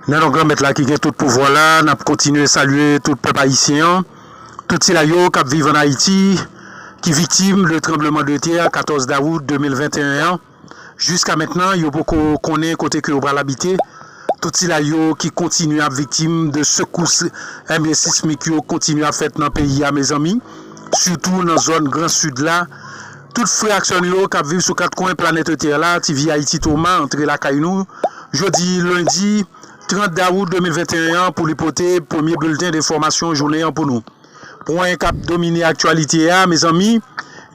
Nan non Granmèt la ki gen tout pouvwa la, n ap kontinye salye tout pèp ayisyen an, tout sila yo k ap viv ann Ayiti, ki viktim de tranbleman de tè 14 dawout 2021 an. Jiska mentnan yo poko konnen kote ke yo pral abite, tout sila yo ki kontinye ap viktim de sekous enbyen sismik yo kontinye ap fèt nan peyi a mezanmi, sitou nan zòn gran sid la, tout frè ak sè nou yo kap viv sou 4 kwen planète tè la, TV Haïti Thomas antre lakay nou jodi lendi 30 dawout 2021 an pou li pote premye bilten de enfòmasyon jounen an pou nou. Pwen k ap domine aktyalite a mezanmi,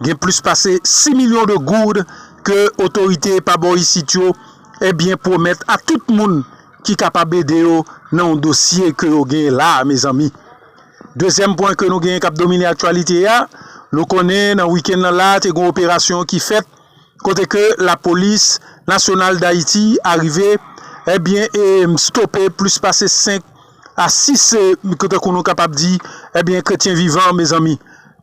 gen plis pase 6 milyon de gourd ke otorite pa bò isit yo ebyen pwomèt a tout moun ki kapab ede yo nan yon dosye ke yo gen la a mezanmi. Dezyèm pwen ke nou gen k ap domine aktyalite a, nou konnen nan wikenn nan la te gen yon operasyon ki fèt, kote ke la polis nasyonal dayiti arive ebyen e stope plis pase 5 a 6 ke tankou nou kapab di ebyen kretyen vivan mezanmi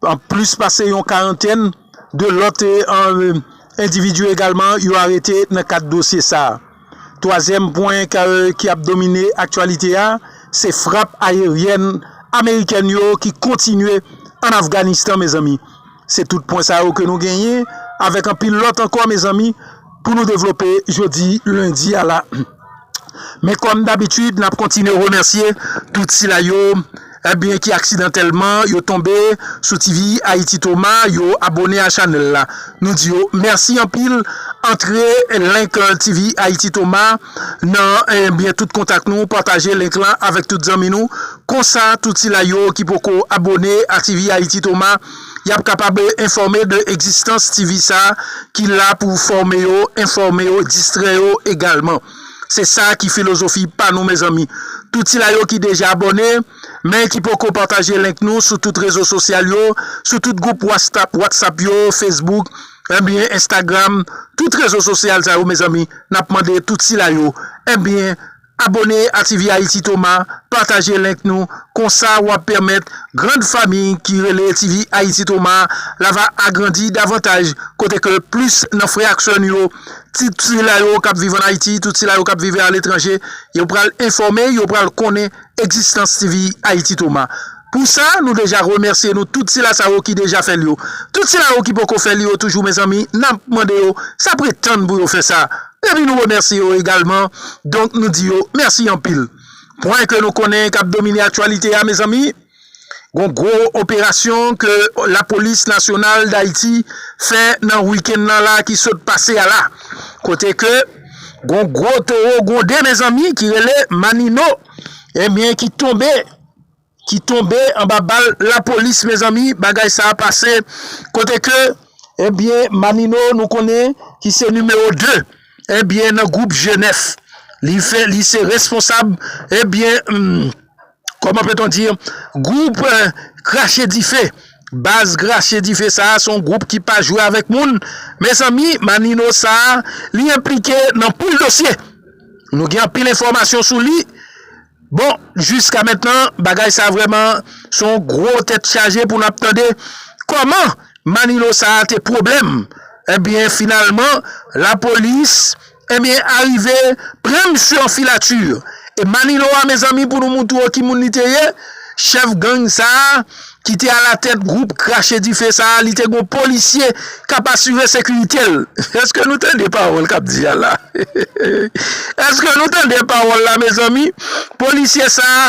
an plis pase yon karantèn de lòt e an endividu egalman yo arete nan kad dosye sa. Twazyèm pwen ki ap domine aktyalite a, se frap ayeryèn amerikèn yo ki kontinye an Afganistan mezanmi. Se tout pwen sa yo ke nou genyen avèk anpil lòt ankò mezanmi pou nou devlope jodi lendi a la. Men kòm dabitid nap kontinye remèsye tout sila yo. Ebyen ki aksidantèlman yo tonbe sou TV Haïti Toma yo abone a chanèl la nou di yo mèsi anpil antre link TV Haïti Toma nan ebyen tout kontak nou pataje link lan avèk tout zanmi nou konsa tout sila yo ki poko abone a TV Haïti Toma yap kapab enfòme de egzistans TV sa ki la pou fòme yo enfòme yo distrè yo egalman. Se sa ki filozofi pa nou mezanmi. Tout sila yo ki deja abòne, men ki poko pataje link nou sou tout rezo sosyal yo, sou tout gwoup whatsapp yo, facebook, enbyen instagram, tout rezo sosyal sa yo mezanmi, nap mande tout sila yo, enbyen abòne a tvhaiti toma, pataje link nou, konsa wap pèmèt grand fami ki rele tvhaiti toma la va agrandi davantaj kote ke plis nan frè ak sè nou yo Tout sila yo k ap viv ann Ayiti, tout sila yo k ap vive aletranje, yo pral enfòme, yo pral konnen egzistans TV Haïti Thomas. Pou sa, nou deja remèsye nou tout sila sa yo ki deja fè l yo. Tout sila yo ki poko fè l yo toujou mezanmi, n ap mande yo sa pre tann pou yo fè sa. Epi nou remèsye yo egalman, donk nou di yo mèsi anpil. Pwen ke nou konnen k ap domine aktyalite a mezanmi. Gon gwo operasyon ke lapolis nasyonal Dayiti fè nan wikenn nan la ki sot pase a la. Kote ke gon gwo towo gwonde mezanmi ki rele Manino ebyen ki tonbe, ki tonbe anba bal lapolis mezanmi bagay sa pase kote ke ebyen Manino nou konnen ki se nimewo 2 ebyen nan gwoup G9 li fè li se responsab ebyen. Comment peut on dire group krache dife baz krache dife sa son group ki pa jwe avèk moun mezanmi Manino sa li enplike nan pil dosye nou gen anpil enfòmasyon sou li bon jiska mentnan bagay sa vrèman son gro tèt chaje pou nap tande kòman Manino sa te pwoblèm ebyen finalman lapolis Ebyen arive pran misye an filature. E Manilo a mezanmi pou nou moutre w ki moun li te ye, chèf gang sa a ki te alatèt gwoup krache dife sa a li te gon polisye k ap asire sekirite l. Eske nou tande pawòl k ap di a la? Eske nou tande pawòl la mezanmi? Polisye sa a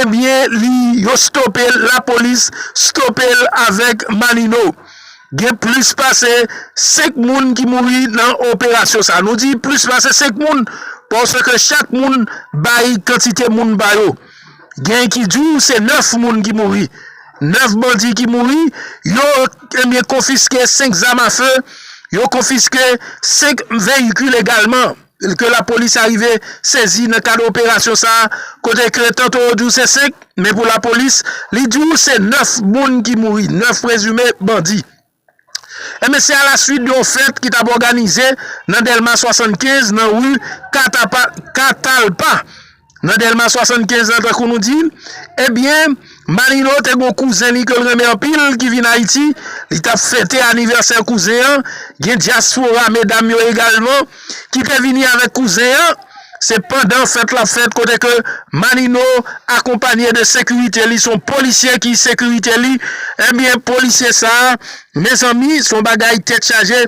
ebyen li yo stope l lapolis stope l avèk Manino. Gen plis pase 5 moun ki mouri nan operasyon sa. Nou di plis pase 5 moun paske chak moun bay kantite moun pa yo. Gen ki di w se 9 moun ki mouri. 9 bandi ki mouri, yo ebyen konfiske 5 zam a fe, yo konfiske 5 veyikil egalman. ke lapolis arive sezi nan kad operasyon sa a, kote ke tanto yo di w se 5, men pou lapolis, li di w se 9 moun ki mouri, 9 prezime bandi. Enben se alaswit yon fèt ki t ap òganize nan Dèlma 75, nan ri Katalpa. Nan Delma 75 lan tankou nou di, ebyen Manilo te gon kouzen li ke l renmen anpil ki vin Ayiti, li t ap fete anivèsè kouzen an, gen dyaspora medam yo egalman ki te vini avèk kouzen an, se pandan fèt la fèt kote ke Manino akonpanye de sekirite li, son polisye ki sekirite li, ebyen polisye sa mezanmi son bagay tèt chaje.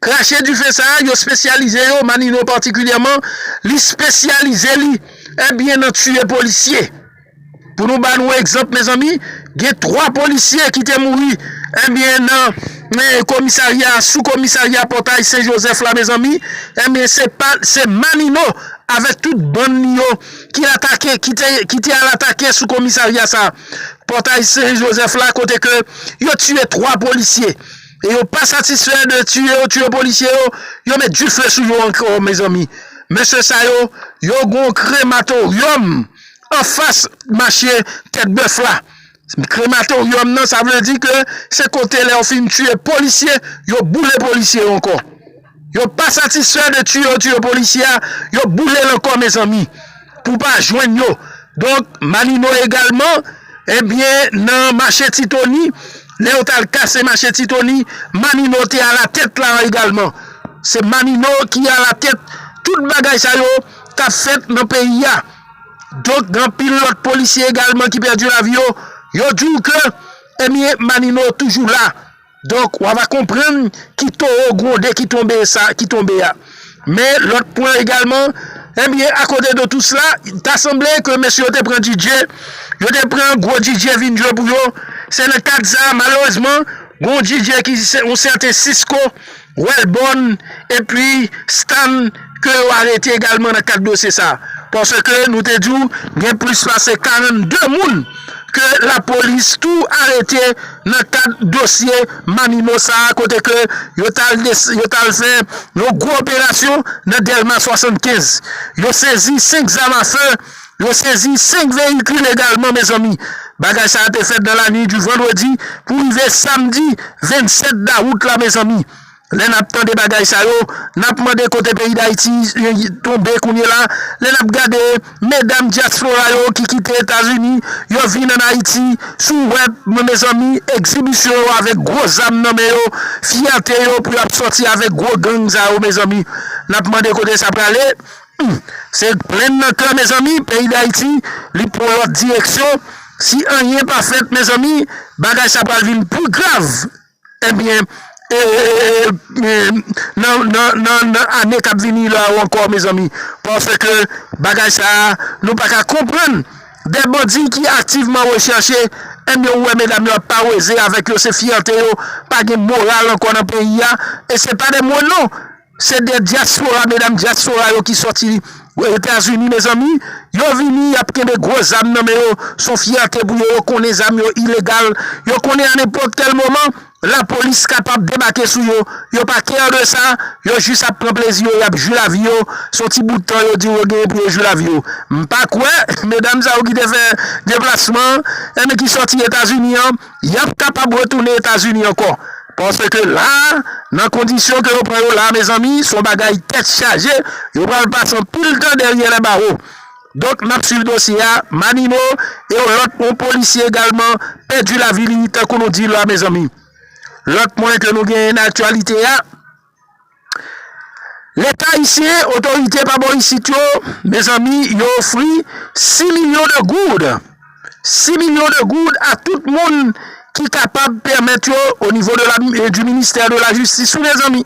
Krache dife sa a, yo spesyalize yo, Manino patikilyèman, li spesyalize li, ebyen nan tiye polisye. Pou nou ba nou egzanp mezanmi, gen 3 polisye ki te mouri, ebyen nan komisarya, sou komisarya pòtay sen jozèf la mezanmi, ebyen se pa, se Manino avèk tout bann li yo ki atake, ki te al atake sou komisarya sa a, pòtay sen jozèf la kote ke yo tiye 3 polisye. E yo pa satisfè de tiye yo tiye polisye yo, yo met dife sou yo ankò mezanmi. Mesye sa yo, yo gon krematoryòm anfas mache tèt bèf la. Krematoryòm nan sa vle di ke se kote lè yo fin tiye polisye, yo boule polisye yo ankò. Yo pa satisfè de tiye yo tiye polisye a, yo boule l ankò mezanmi pou pa jwenn yo. Donk Malino egalman ebyen nan mache Ti Tony, lè yo t al kase mache Ti Tony, Malino te alatèt la egalman. Se Malino ki alatèt tout bagay sa yo k ap fèt nan peyi a. Donk gen anpil lòt polisye egalman ki pèdi lavi yo, yo di w ke ebyen Malino toujou la. Donk wa va konprann ki towo gronde ki tonbe sa ki tonbe a. Men lòt pwen egalman, ebyen a kote de tou sla, ta sanble ke mesye yo te pran Didier, yo te pran gwo Didier vin jwe pou yo, se nan kad sa malerezman, gon Didier ki se yon sèten Cisco Welbon epi Stan ke yo arete egalman nan kad dosye sa. Paske nou te di w gen plis pase 42 moun ke lapolis tou arete nan kad dosye Manimo sa kote ke yo t al fè yon gwo operasyon nan Dèlma 75. Yo sezi 5 zam afe Yo sezi 5 veyikil egalman mezanmi. Bagay sa a te fèt nan lanwit du vandredi pou rive samdi 27 dawout la mezanmi. Lè nap tande bagay sa yo nap mande kote peyi dayiti tonbe kounyela lè nap gade medam diaspora yo ki kite etazini yo vin an ayiti sou wèb mezanmi egzibisyon yo avèk gwo zam nan men yo fyète yo pou yap sòti avèk gwo gang sa yo mezanmi nap mande kote sa prale. Se plenn nan kè mezanmi peyi dayiti li pwan lòt direksyon si anyen pa fèt mezanmi bagay sa pral vin pi grav ebyen nan ane kap vini la yo ankò mezanmi paske bagay sa nou paka konprann de bandi ki aktivman rechèche ebyen ou wè medam yo ap paweze avèk yo se fyète yo pa gen moral ankò nan peyi a e se pa de mwen non. Se de dyaspora medam dyaspora yo ki soti etazini mezanmi yo vini yap kenbe gwo zam nan men yo son fyète pou yo yo konnen zam yo ilegal yo konnen a nenpòt kèl moman lapolis kapab debake sou yo yo pa care de sa yo jis ap pran plezi yo yap jwi lavi yo son ti bout tan yo diw yo genyen pou yo jwi lavi yo m pa kwè medam sa yo ki te fè deplasman an ki soti etazini an. Y ap kapab retounen Etazini ankò. Paske la, nan kondisyon ke yo pran yo la, mezanmi, s on bagay tèt chaje, yo pral pase anpil tan dèryè lèbawo. Donk, n ap swiv dosye a. Manino, e yon lòt, yon polisye egalman, pèdi lavi li, tankou nou di la, mezanmi. Lòt pwen ke nou genyen nan aktyalite a. Leta ayisyen, otorite pa bò isit yo, mezanmi, yo ofri 6 milyon de goud, 6 milyon de goud a tout moun ki kapab pèmèt yo o nivo de la, di ministè de la jistis wi mezanmi.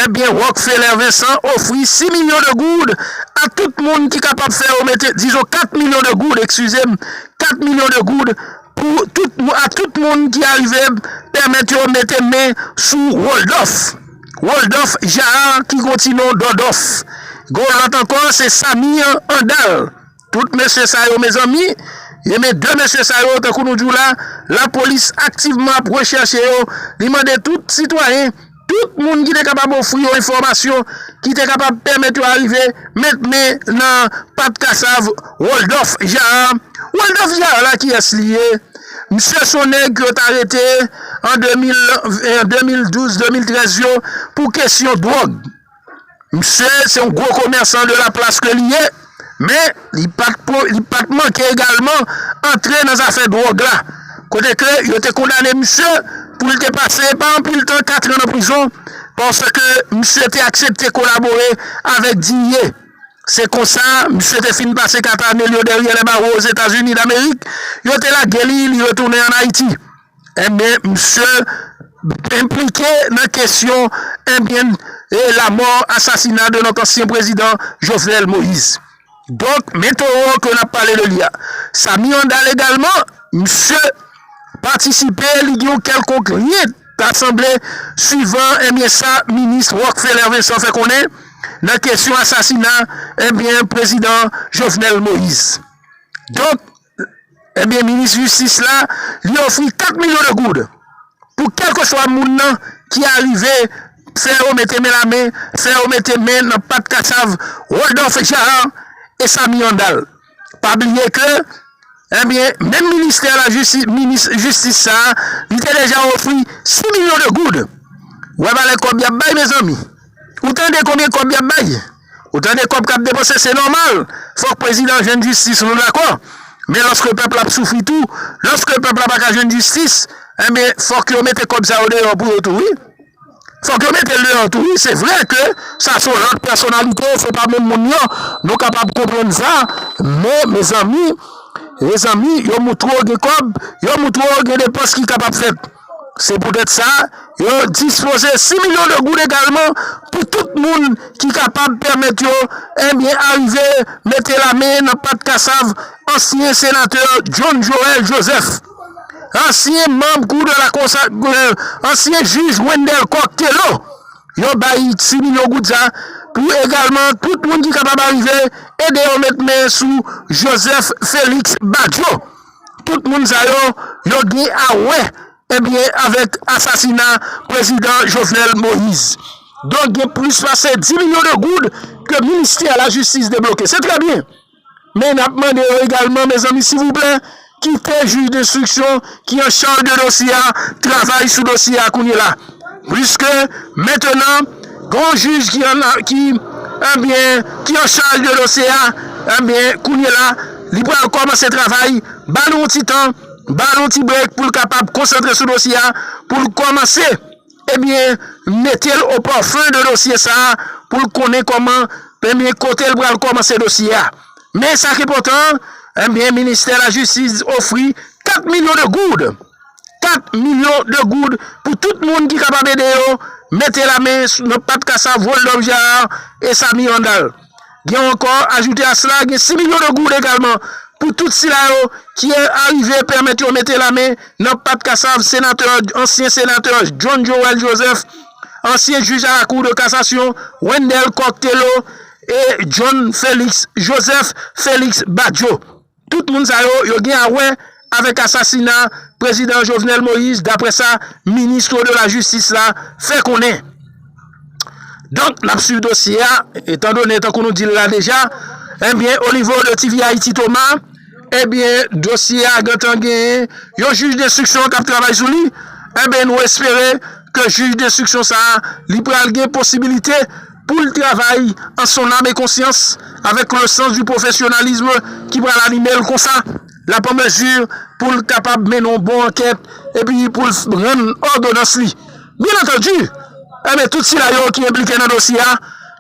Ebyen Rockfeller Vincent ofri 6 milyon de goud a tout moun ki kapab fè yo mete, dizon 4 milyon de goud, ekskize m, 4 milyon de goud, Pou tout mwa tout moun ki arive pèmèt yo mete men sou Woldòf, Roldòf, Jaar ki gon ti non Dòdòf. Gon lòt ankò se Samir, Andal. Tout mesye sa yo mezanmi, e men 2 mesye sa yo tankou nou di w la, lapolis aktivman ap rechèche yo, li mande tout sitwayen. Tout moun ki te kapab ofri yo enfòmasyon ki te kapab pèmèt yo arive met men nan pat kasav Woldòf Jara. Woldòf Jara la kiyès li ye? Msye son nèg ke yo t arete an 2012, 2013 yo pou kesyon dwòg. Misye se yon gwo komèsan de la plas ke li ye, men li pa t manke egalman antre nan zafè dwòg la, kote ke yo te kondane misye pou li te pase pa anpil tan katran nan prizon paske misye te aksepte kolabore avèk Digne. Se konsa, misye te fin pase kat ane l yo dèryè lèbawo Ozetazini Damerik, yo te lage li, li retounen an Ayiti. Ebyen misye enplike nan kesyon ebyen lamò asasina de notre ancien president Jovenel Moïse. Donk men towo ke nap pale de li a. Samy Handal egalman misye patisipe li gen yon kelkonk lyen ta sanble suivan ebyen sa minis Rockfeller Vincent fè konnen nan kesyon asasina ebyen prezidan Jovenel Moïse. Donk. Ebyen minis jistis la li ofri 4 milyon de goud pou kelkeswa moun nan ki arive fè yo mete men la men, fè yo mete men nan pat kasav Rodolphe Jaar e Samy Andal. Pa bliye ke ebyen menm ministè la jistis minis jistis sa li te deja ofri 6 milyon de goud. Wè valè kòb yap bay mezanmi. Ou tande konbyen kòb yap bay? Ou tande kòb kap depanse se nòmal fòk prezidan jwenn jistis nou dakò men lòske pèp la ap soufri tou lòske pèp la pa ka jwenn jistis enben fòk yo mete kòb sa yo deyò pou yo tou wi fòk yo metel deyò tou wi se vre ke sa son lòt pèsonalite se pa menm moun yo nou kapab konprann sa men mezanmi mezanmi yo moutre yo gen kòb yo moutre yo gen depans ki kapab fèt. Se poutèt sa, yo dispoze 6 milyon de goud egalman pou tout moun ki kapab pèmèt yo enben arive mete lamen nan pat kasav ansyen senatè John Joël Joseph, ansyen manb kou de la kons ak ansyen jij Wendelle Coq Thélot. Yo bay 6 milyon goud sa pou egalman tout moun ki kapab arive ede yo met men sou Joseph Félix Badio. Tout moun sa yo, yo gen a wè ebyen avèk asasina prezidan Jovenel Moïse. Donk gen plis pase 10 milyon de goud ke ministè la jistis debloke. Se trè byen. Men nap mande yo egalman mezanmi sivouplè kite jij denstriksyon ki an chaj de dosye a travay sou dosye a kounye la. Puiske mentenan gen yon jij ki an ki enbyen ki an chaj de dosye a enbyen kounyela li pral kòmanse travay ba nou yon ti tan ba nou yon ti brek pou l kapab konsantre sou dosye a pou l kòmanse enbyen mete l o pòfen de dosye sa pou l konnen kòman enbyen kote l pral kòmanse dosye a men sa ki enpòtan enbyen ministè lajistis ofri 4 milyon de goud 4 milyon de goud pou tout moun ki kapab ede yo mete la men nan pat kasav Woldòf Jaar e Samy Randal. Gen ankò, ajoute a sela, gen 6 milyon de goud egalman pou tout sila yo ki arive pèmèt yo mete la men nan pat kasav Senatè, ansyen Senatè John Joël Joseph, ansyen Jij a la Kou de Kasasyon Wendel Coq Thelo e John Félix Joseph Félix Badio. Tout moun sa yo, yo gen a wè avèk asasina Prezidan Jovenel Moïse daprè sa Ministre de la Justice la fè konnen. Donk n ap swiv dosye a, etan done tankou nou di l la deja, ebyen o nivo de TV Haïti Thomas, ebyen dosye a gentan gen yon jij denstriksyon k ap travay sou li, enben nou espere ke jij denstriksyon sa a li pral gen posibilite. pou l travay an son nam e konsyans avèk le sans du professionnalisme ki pral anime l konsa l ap an mezi pou l kapab mennen yon bon ankèt epi pou l rann òdonans li. Byen antandi, enben tout sila yo ki enplike nan dosye a,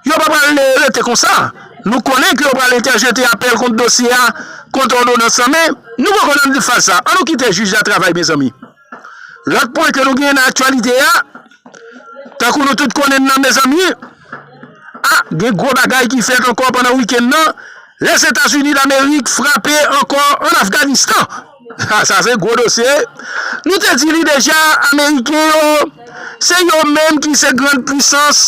yo pa pral rete konsa. Nou konnen ke yo pral entèjete apèl kont dosye a, kont òdonans lan men nou poko nan faz sa. An nou kite jij la travay mezanmi. Lòt pwen ke nou genyen nan aktyalite a, tankou nou tout konnen nan mezanmi, a, gen gwo bagay ki fèt ankò pandan wikenn nan, Lèzetazini Damerik frape ankò an Afganistan. A, sa se gwo dosye. Nou te di li deja, Ameriken yo, se yo menm ki se grann pwisans,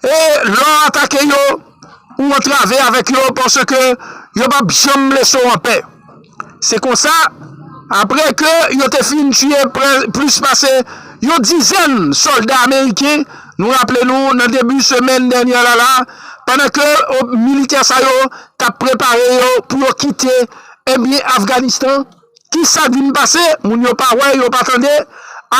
e lè w atake yo, ou antrave avèk yo paske yo p ap janm lese w anpè. Se konsa, apre ke yo te fin tiye plis pase yon dizèn sòlda ameriken, nou raple nou nan debi semèn dènyè la la, pandan ke militè sa yo t ap prepare yo pou yo kite Afganistan, Ki sa k vin pase? Moun yo pa wè, yo pa tande,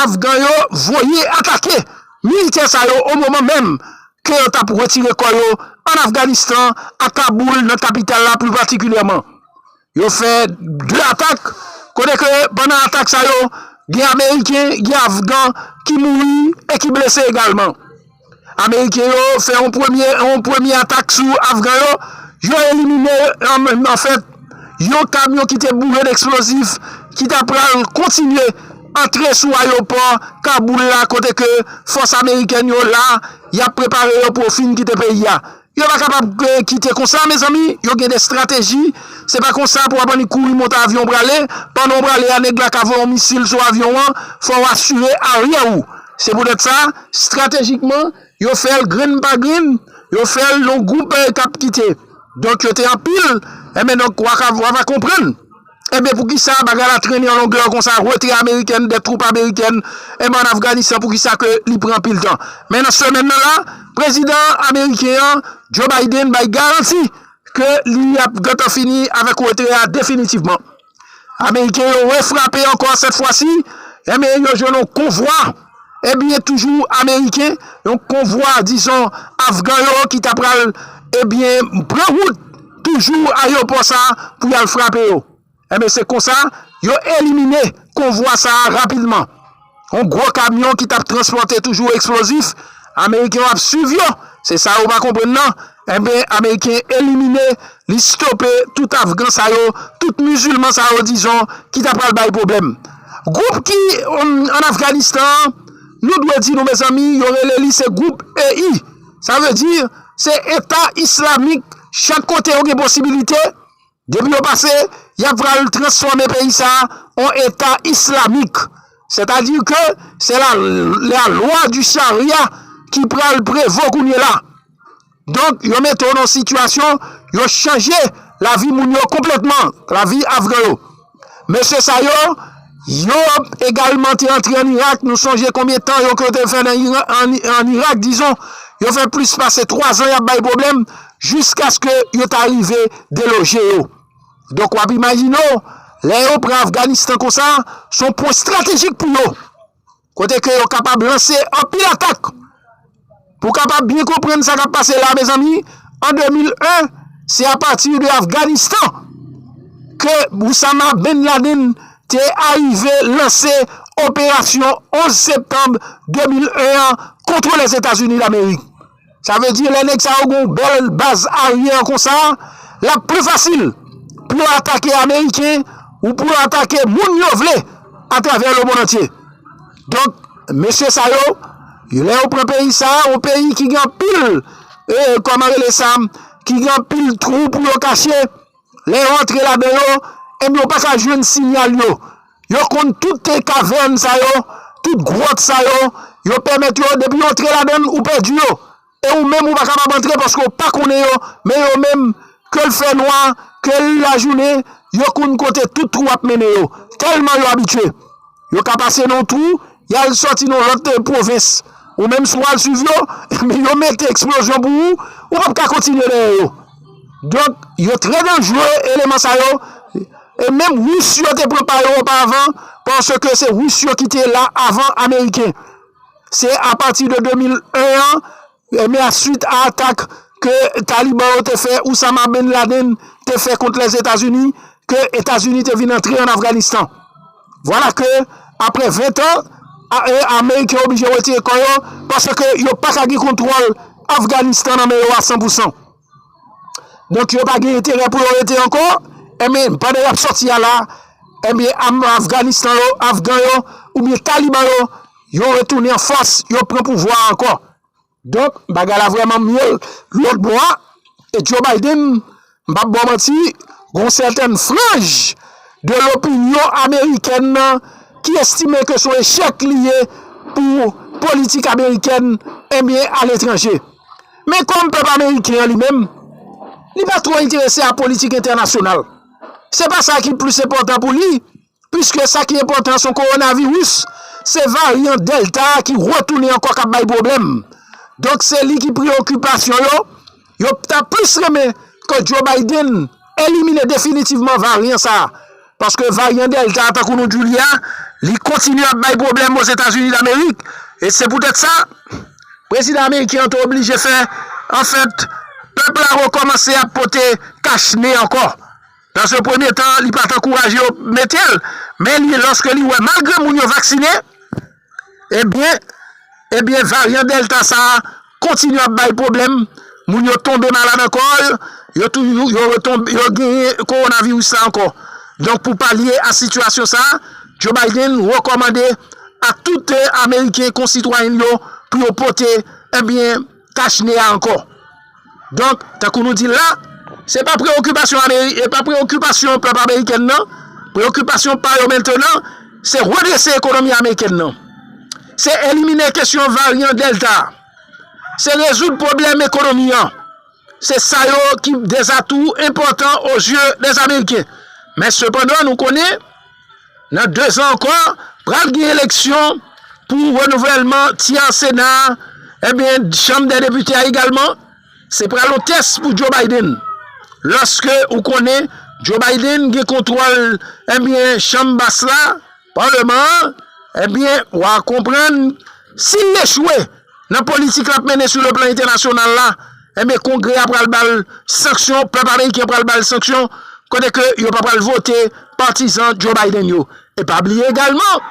afgan yo voye atake militè sa yo o moman menm ke yo t ap retire kò yo an Afganistan, a Kaboul, nan kapital la pli patikilyèman. Yo fè 2 atak, kote ke pandan atak sa yo, gen ameriken, gen afgan ki mouri e ki blese egalman. Ameriken yo fè yon premye atak sou Afgan yo, yo elimine anfèt yon kamyon ki te boure n eksplozif ki ta pral kontinye antre sou ayopò Kaboul la kote ke fòs amerikèn yo la yap prepare yo pou yo fin kite peyi a. Yo pa kapab kite konsa mezanmi, yo gen de strateji, se pa konsa pou wap annik kouri monte avyon prale, pandan w prale a nèg la ka voye yon misil sou avyon an, fò w asire aryè ou. Se poutèt sa, stratejikman, yo fè l grenn pa grenn, yo fè l yon gwoup k ap kite. Donk yo te anpil, enben donk wa va konprann. Enben poukisa bagay la trennen yon longè konsa retrè amerikèn de twoup amerikèn enben an Afganistan poukisa ke li pran anpil tan men nan semèn nan la prezidan ameriken an Joe Biden bay garanti ke li ap gentan fini avèk retrè a definitivman ameriken yo refrape ankò sèt fwa si enben yo jwenn yon konvwa. Ebyen toujou ameriken, yon konvwa dizon afgan yo ki ta pral ebyen pran wout toujou ayewopò sa pou yal frape yo. Ebyen se konsa yo elimine konvwa sa rapidman. Yon gwo kamyon ki tap transpòte toujou eksplozif, ameriken yo ap swiv yo, se sa yo pa konprann nan. Enben ameriken elimine li stope tout afgan sa yo tout mizilman sa yo dizon ki ta pral bay pwoblèm gwoup ki an afganistan an nou dwe di nou mezanmi yo rele li se gwoup EI sa vle di se eta islamik chak kote yo gen posibilite Depi yo pase, y ap pral transfòme peyi sa a an eta islamik. Sètadi ke se la lwa di charia ki pral prevo kounye la. Donk yo mete w nan sitiyasyon, yo chanje lavi moun yo konplètman, lavi afgan yo. Mesye sa yo, yo egalman te antre an Irak. Nou sonje konbyen tan yo ke yo te fè nan an Irak, dizon, yo fè plis pase 3 zan y ap bay pwoblèm, jiskaske yo ta rive deloje yo. Donk w ap imajine w, lè yo pran Afganistan konsa, s on pwen estratejik pou yo. Kote ke yo kapab lanse anpil atak. Pou kapab byen konprann sa kap pase la mezanmi, an 2001, se a pati de Afganistan ke Oussama Ben Laden te arive lanse operasyon 11 septanb 2001 an kontre Lèzetazini Lamerik. Sa vle di lè nèg sa yo gen yon bèl baz aryè konsa, l ap pli fasil pou yo atake ameriken ou pou yo atake moun yo vle atravè lemonnantye. Donk, mesye sa yo, lè yo pran peyi sa, yon peyi ki gen anpil, kòman rele sa, ki gen anpil twou pou yo kache, Lè yo antre ladan yo, enben yo pa ka jwenn sinyal yo. Yo konn tout kavèn sa yo, tout gwòt sa yo, yo pèmèt yo, depi yo antre ladan l, ou pèdi yo. E ou menm ou pa kapab antre paske ou pa konnen yo, men yo menm, ke l fè nwa, ke l lajounen, yo konn kote tout twou ap mennen yo, tèlman yo abitye. Yo ka pase nan yon twou, y al sòti nan yon lòt pwovens. Ou menm si w al suiv yo, men yo mete eksplozyon pou ou, ou pap ka kontinye dèyè yo. Donk, yo trè danjre, eleman sa yo. E menm Ris yo te pran pa yo oparvan, paske se Ris yo ki te la avan Ameriken. Se apati de 2001 an. Ebyen a suit a atak ke Taliban yo te fè Oussama Bin Laden te fè kont Lèzetazini ke Etazini te vin antre an Afganistan. Vwala ke apre 20 tan Ameriken oblije wetire kò yo paske yo paka gen kontwòl Afganistan nan men yo a 100 pousan. Donk yo pa gen enterè pou yo rete ankò, enben pandan y ap sòti a la, enben Afganistan yo, Afgan yo, oubyen Taliban yo, yo retounen an fòs, yo pran pouvwa a ankò. Donk bagay la vrèman mye lòt bò a, e Joe Biden, m p ap ba w manti, gen yon sèten franj de lopinyon amerikèn nan ki estime ke se yon echèk li ye pou politik amerikèn, enben aletranje. Men kòm pèp ameriken an li menm, li pa twò enterese a politik entènasyonal. Se pa sa ki plis enpòtan pou li, piske sa ki enpòtan son kowonaviris, se varyan Delta a ki retounen ankò k ap bay pwoblèm. Donk se li ki preyokipasyon yo, yo ta plis renmen ke Joe Biden elimine definitivman varyan sa a. Paske varyan Delta a, tankou nou di w li a, li kontinye ap bay pwoblèm Ozetazini Damerik. E se poutèt sa, prezidan ameriken an te oblije fè, anfèt, pèp la rekòmanse ap pote kach ne ankò. Dans un premye tan, li pa t ankouraje yo mete l, men li, lòske li wè malgre moun yo vaksinen, Ebyen Ebyen varyan Delta sa a kontinye ap bay pwoblèm, moun yo tonbe malad ankò, yo tou yo retonbe yo genyen kowonaviris la ankò. Donk pou palye a sitiyasyon sa a, Joe Biden rekòmande a tout ameriken konsitwayen l yo pou yo pote ebyen Tach ne a ankò. Donk, tankou nou di l la, se pa preyokipasyon ameriken, pa preyokipasyon pèp ameriken nan, preyokipasyon pa yo mentenan, se redrese ekonomi ameriken nan. Se elimine kesyon varyan Delta. Se rezoud pwoblèm ekonomi an. Se sa yo ki dezatou enpòtan o zye dèzamerken. Men sepandan nou konnen. Nan 2 zan ankò, pral gen eleksyon pou renouvèlman tyè Sena a, ebyen Chanm dè Depite a egalman. Se pral yon tès pou Joe Biden. Lòske ou konnen Joe Biden gen kontwòl ebyen Chanm Bas la, Paleman an, ebyen wa konprann si l echwe. nan politik lap mennen sou le plan entènasyonal la, enben kongrè a pral bal sanksyon, pèp ameriken pral bal sanksyon, kote ke yo pa pral vote patizan Joe Biden yo. E pa bliye egalman,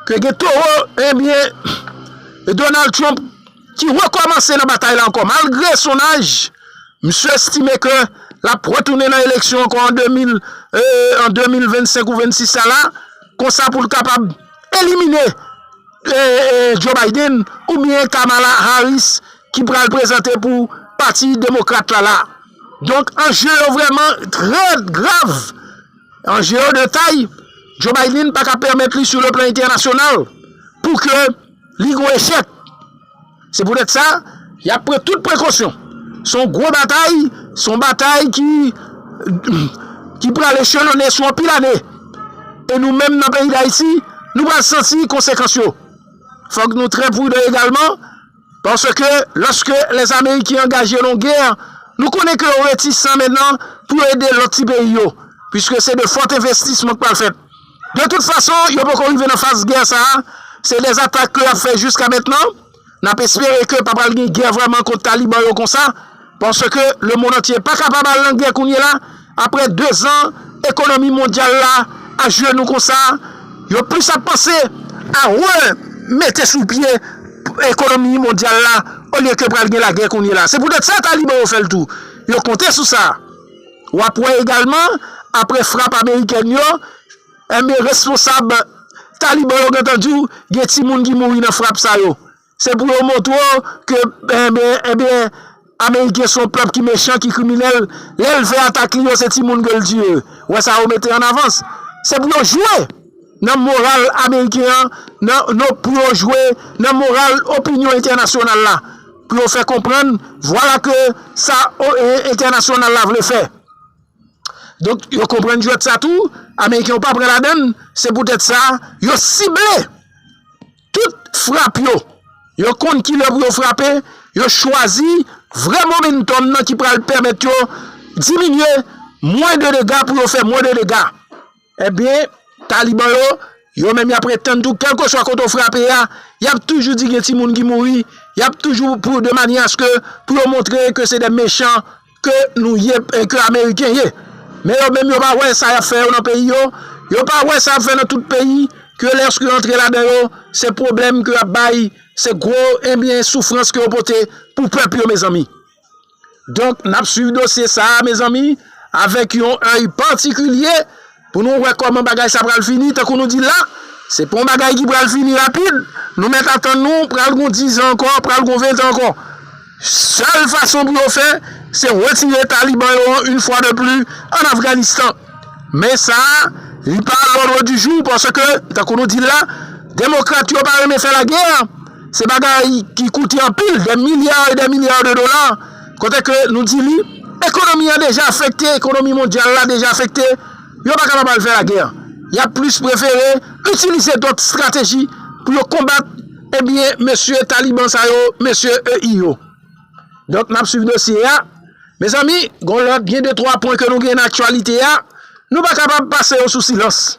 ke gen towo, enben, Donald Trump ki rekòmanse nan batay la ankò, malgre son aj, misye estime ke lap retounen nan eleksyon ankò an 2025 ou 26 sa la, konsa pou l kapab elimine. Joe Biden oubyen Kamala Harris ki pral prezante pou pati demokrat la la. Donk anje yo vrèman trè grav. Anje yo de tay. Joe Biden pa ka pèmèt li sou le plan entènasyonal pou ke li gon echèk. Se poutèt sa, y ap pran tout prekosyon. Se yon gwo batay, se yon batay ki pral echelone sou anpil ane. E nou menm nan peyi Dayiti, nou pral santi konsekans yo. Fòk nou trè prudan egalman, paske lòske lè Ameriken angaje nan yon gè, nou konnen ke yo retisan mennan pou yo ede lòt ti peyi yo, piske se de fòt envestisman k pral fèt. De tout fason, yo poko rive nan faz gè sa a, se dè atak ke y ap fè jiska mentnan, n ap espere ke pa pral gen gè vrèman kont Taliban yo konsa, paske lemonn antye pa kapab al nan gè kounyela, apre 2 zan ekonomi mondyal la ajenou konsa, yo plis ap panse a re mete sou pye ekonomi mondyal la olye ke pral gen lagè kounyela, se poutèt sa Taliban yo fè l tou, yo konte sou sa. W ap wè egalman, apre frap amerikèn yo, enben responsab Taliban yo gentan di w gen timoun ki mouri nan frap sa yo. Se pou yo montre w ke enben, enben, ameriken se yon pèp ki mechan, ki kriminèl. Lè l fè atak li yo, se timoun ke l tiye. Wè sa yo mete an avans. Se pou yo jwe! nan moral ameriken an, nan nou pou yo jwe nan moral opinyon entènasyonal la, pou yo fè konprann vwala ke sa entènasyonal la vle fè. Donk yo konprann jwèt sa tou, ameriken yo pa pran ladan l, se poutèt sa yo sible tout frap yo, yo konn ki lè pou yo frape, yo chwazi vrè momentum nan ki pral pèmèt yo diminye mwen de dega pou yo fè mwen de dega. Ebyen, Taliban yo, yo menm yap ret tann tou, kelkeswa kote ou frape a, yap toujou di gen timoun ki mouri, yap toujou pou de manye aske pou yo montre ke se de mechan ke nou ye, ke Ameriken ye. Men yo menm yo pa wè sa yap fè yo nan peyi yo, yo pa wè sa yap fè nan tout peyi, ke lèske yo antre la dan yo, se pwoblèm ke yap bay, se gwo, ebyen, soufrans ke yo pote pou pèp yo mezanmi. Donk nap swiv dosye sa a mezanmi avèk yon èy patikilye pou nou wè kòman bagay sa pral fini tankou nou di la se pa yon bagay ki pral fini rapid nou mèt atann nou pral gon dizan ankò pral gon ventan ankò sèl fason pou yo fè se retire taliban yo an yn fwa de pli an Afganistan men sa li pa a lòdre di jou paske tankou nou di la demokrat yo pa renmen fè lagè. Se bagay ki koute anpil, dè milya e dè milya de dola, kote ke nou di li, ekonomi an deja afekte, ekonomi mondyal la deja afekte, yo pa kapab al fè lagè. Y ap plis prefere itilize dòt estrateji pou yo konbat, ebyen, mesye Taliban sa yo, mesye EI yo. Donk, n ap swiv dosye a. Mezanmi, gen yon lòt, gen de twa pwen ke nou gen nan aktyalite a, nou pa kapab pase yo sou silans.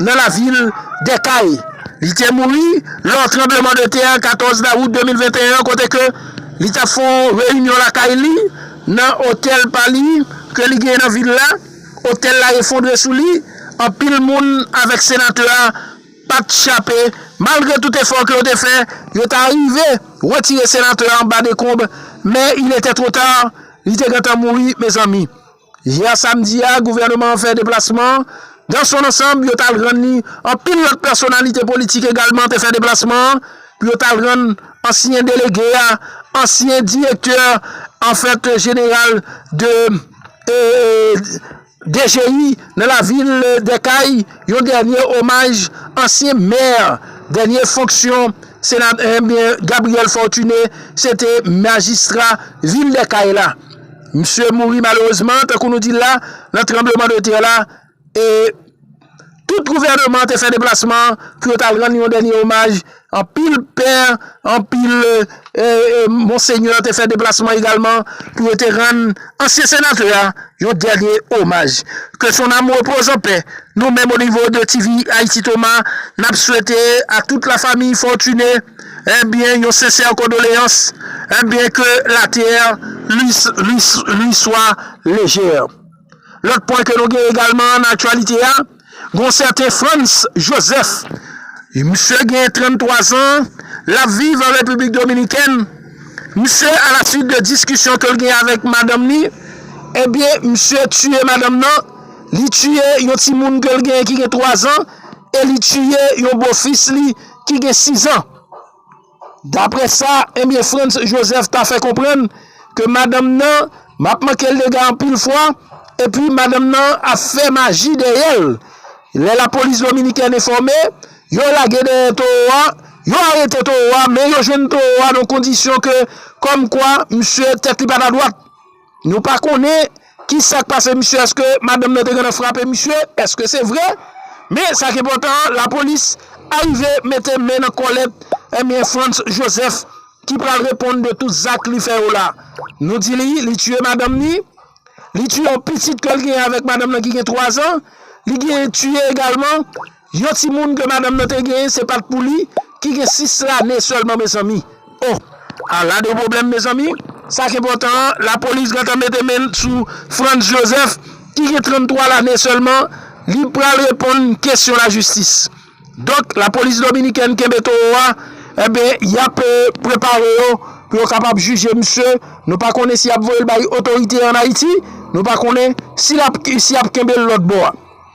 nan lavil dè Kay. Li te mouri lò tranbleman de tè 14 dawout 2021 an kote ke li tap fè yon reyinyon lakay li nan otèl pa li ke li genyen nan vil la. Otèl la efondre sou li, anpil moun avèk senatè a pat chape malgre tout efò ke yo te fè, yo ta rive retire senatè a anba dekonb men il etè tro tar, li te gentan mouri mezanmi. Yè samdi a, gouvèneman an fè deplasman. Dans son ansanb, yo t al rann li. Anpil lòt pèsonalite politik egalman te fè deplasman an pou yo t al rann ansyen delege a, ansyen direktè anfèt jeneral de DGI nan lavil Dèkay, yon dènye omaj ansyen mè dènye fonksyon Gabriel Fortuné se te majistra vil Dèkay la. Misye mouri malerezman, tankou nou di l la, nan tranbleman de tè la, e tout gouvèneman an te fè deplasman pou yo t al rann yon dènye omaj, anpil pè, anpil monsenyè te fè deplasman egalman pou yo te rann ansyen senatè a yon dènye omaj. Ke son nam repoze an pè. Nou menm onivo de TV Haïti Thomas, n ap swete a tout la famiy Fortuné. Ebyen yon sincère condoléances ebyen que la terre lui soit légère. Lòt pwen ke nou gen egalman nan aktyalite a, gon sèten Frantz Joseph, misye gen 33 zan, lap viv an Repiblik Dominikèn, misye a la suit de diskisyon ke l gen avèk madanm ni, ebyen misye tiye madanm nan, li tiye yon timoun ke l gen ki gen 3 zan e li tiye yon bofis li ki gen 6 an. Dapre sa enbyen Frantz Joseph ta fè konprann ke madanm nan ap manke l dega anpil fwa epi madanm nan ap fè maji dèyè l. Lè lapolis dominikèn enfòme, yo lage dèyè towo a, yo arete towo a men yo jwenn towo a nan kondisyon ke kòmkwa msye tèt li pa ta dwat. Nou pa konnen ki sa k pase misye, èske madanm nan te gentan frape misye, èske se vre? Men sa k enpòtan an, lapolis arive mete men nan kòlèt enben Frantz Joseph ki pral reponn de tout zak li fè yo la. Nou di li, li tiye madanm ni, li tiye yon pitit ke l genyen avèk madanm nan ki gen 3 zan, li genyen tiye egalman. Yon timoun ke madanm nan te genyen se pat pou li ki gen 6 lane sèlman mezanmi oh a la de pwoblèm mezanmi sa k enpòtan an lapolis gentan mete men l sou Frantz Joseph ki gen 33 lane sèlman li pral reponn kesyon lajistis donk lapolis dominikèn kenbe towo a enben yap prepare yo pou yo kapab jije misye nou pa konnen si yap voye l bay otorite an Ayiti nou pa konnen si yap kenbe l lòtbò a.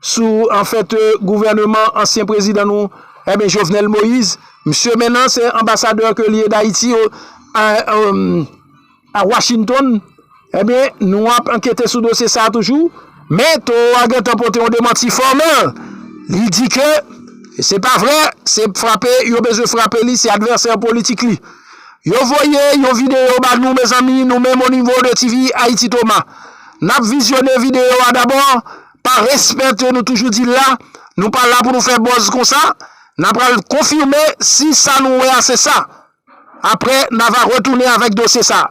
sou an fèt gouvèneman ansyen prezidan nou eh Jovenel Moïse misye mennan se anbasadè ke li ye d'Haïti a Washington eh nou ap ankete sou dosye sa toujou men Toro a gentan pote yon demanti fòmèl li di ke se pa vrè se frape yo bezwen frape li se advèsè politik li yo voye yon video ba nou mezanmi nou menm o nivo de TV Haïti Thomas nap vizyone video a dabò pa respète nou toujou di la, nou pa la pou nou fè bòz konsa, na pral konfime si sa nou wè a se sa. Aprè na va retounen avèk dosye sa.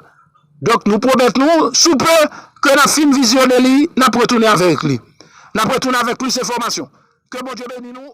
Donk nou pwomèt nou sou pe ke na fin vizyone li, na pwetounen avèk li. Na pwetounen avèk plis enfòmasyon. Ke Bondye beni nou.